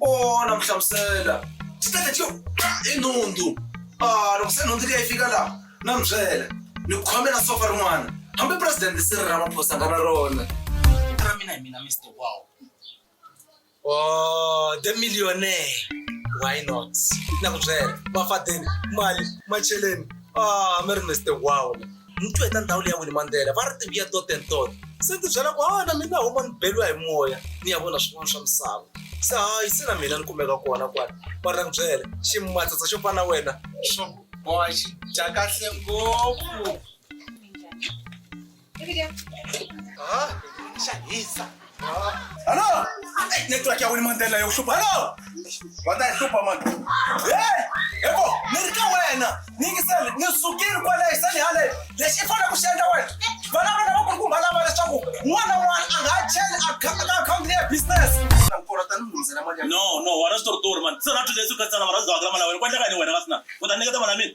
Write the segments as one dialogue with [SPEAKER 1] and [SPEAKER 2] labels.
[SPEAKER 1] o na mu hlamusela ti teke ti yo i nhundzu a ah, loko se nhundzu leyi fika laha na mi byela ni ku khomela sofa rin'wana hambi presidente siri ra maphosa nga na rona ra mina hi mina mr wow o oh,
[SPEAKER 2] the millionaire why not na ku byela mafadeni mali macheleni a ah, mi ri mr wow ni twe ta ndhawu leyi ya wini mandlela va ri tivuya toten tot se ni tibyela ku ha na mina huma ni beliwa hi moya ni ya vona swin'wana swa misava se hayi se na mina ni kumeka kona kwani va ri na ku byela ximatsatsa xo fana wena xo boha xi dya kahle ngopfu ha xa hisa Alo!
[SPEAKER 1] Network ya wini mandela yo hlupha. Alo! Wa ta hlupha man. Eh! Eko, ni ri ka wena. Ni ngisele, ni sukile kwale hi sali hale. Lexi i fanele ku xi endla wena. Vana vana va kulukumba lava leswaku n'wana n'wana a nga ha cheli account ka account leyi ya business. Na nkora ta ni lungisela mali
[SPEAKER 3] ya. No, no, wena switoritori mani. Se na two days u khatsana mara u za wa kala mali ya wena. Ku endleka yini wena ka sina? U ta nyiketa mali ya mina?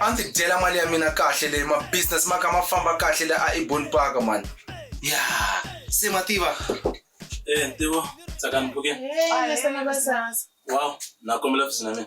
[SPEAKER 4] a ndzi
[SPEAKER 1] dyela mali ya mina kahle leyi mabusiness ma kha ma famba kahle le a ebon park mani ya se ma tiva e
[SPEAKER 3] ntivo
[SPEAKER 4] tsakanipuke
[SPEAKER 3] wow na kombela fisi na mina